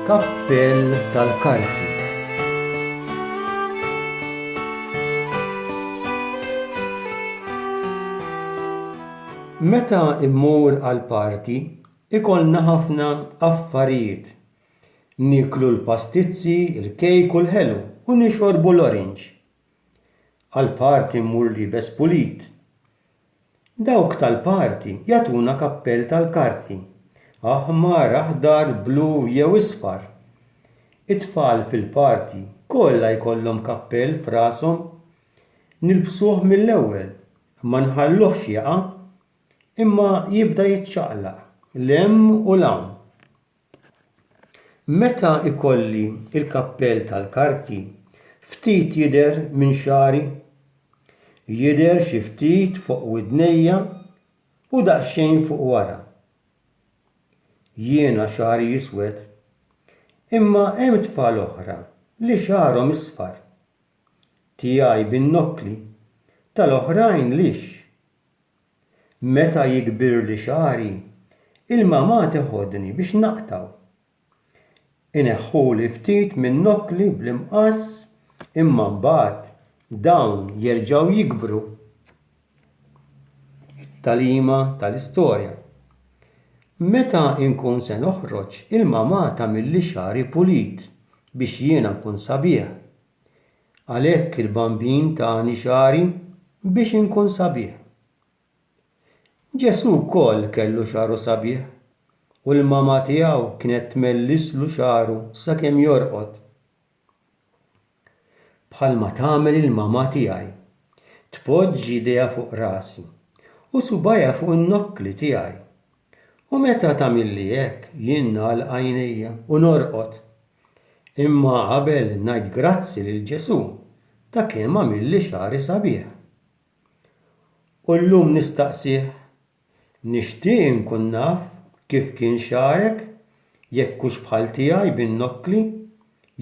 Kappell tal-Karti Meta immur għal party, ikollna ħafna affarijiet Nieklu l-pastizzi, il-kejk u l-ħelu u nixorbu l-orange. Għall-party mmur liebes pulit. Dawk tal-party jagħtuna kappell tal-karti, aħmar, aħdar, blu jew isfar. It-tfal fil-party kollha jkollhom kappell f'rashom. Nilbsuh mill-ewwel, ma nħalluhx jaqa', imma jibda jiċċaqlaq 'l hemm u 'l hawn. Meta jkolli l-kappell tal-karti, ftit jidher minn xagħri. Jidher xi ftit fuq widnejja u daqsxejn fuq wara. Jiena xagħri jiswed, imma hemm tfal oħra li xagħarhom isfar. Tiegħi bin-nokkli, tal-oħrajn lixx. Meta jikbirli xagħri, il-mamà teħodni biex naqtgħu. Ineħħuli ftit min-nokkli bl-imqass imma mbagħad dawn jerġgħu jikbru. It-tagħlima tal-istorja, Meta nkun se noħroġ, il-mamà tagħmilli xagħri pulit biex jiena nkun sabiħ. Għalhekk il-Bambin tani xagħri biex inkun sabiħ. Ġesù wkoll kellu xagħru sabiħ u l-mama tiegħu kienet tmellislu xagħru sakemm jorqod. Bħalma tagħmel il-mama tiegħi, tpoġġi idejha fuq rasi u subgħajha fuq in-nokkli tiegħi U meta tagħmilli hekk, jien nagħlaq għajnejja u norqod. Imma qabel ngħid grazzi lil Ġesù ta' kemm għamilli xagħri sabiħ. U llum nistaqsih, nixtieq inkun naf kif kien xagħrek, jekk hux bħal tiegħi bin-nokkli,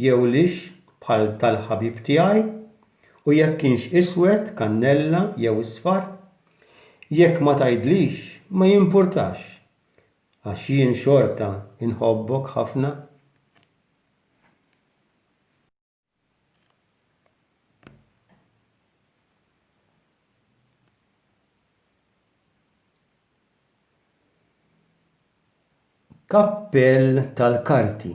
jew lixx bħal tal-ħabib tiegħi, u jekk kienx iswed kannella jew isfar, Jekk ma tgħidlix ma jimpurtax għax jien xorta nħobbok ħafna. Kappell tal-karti.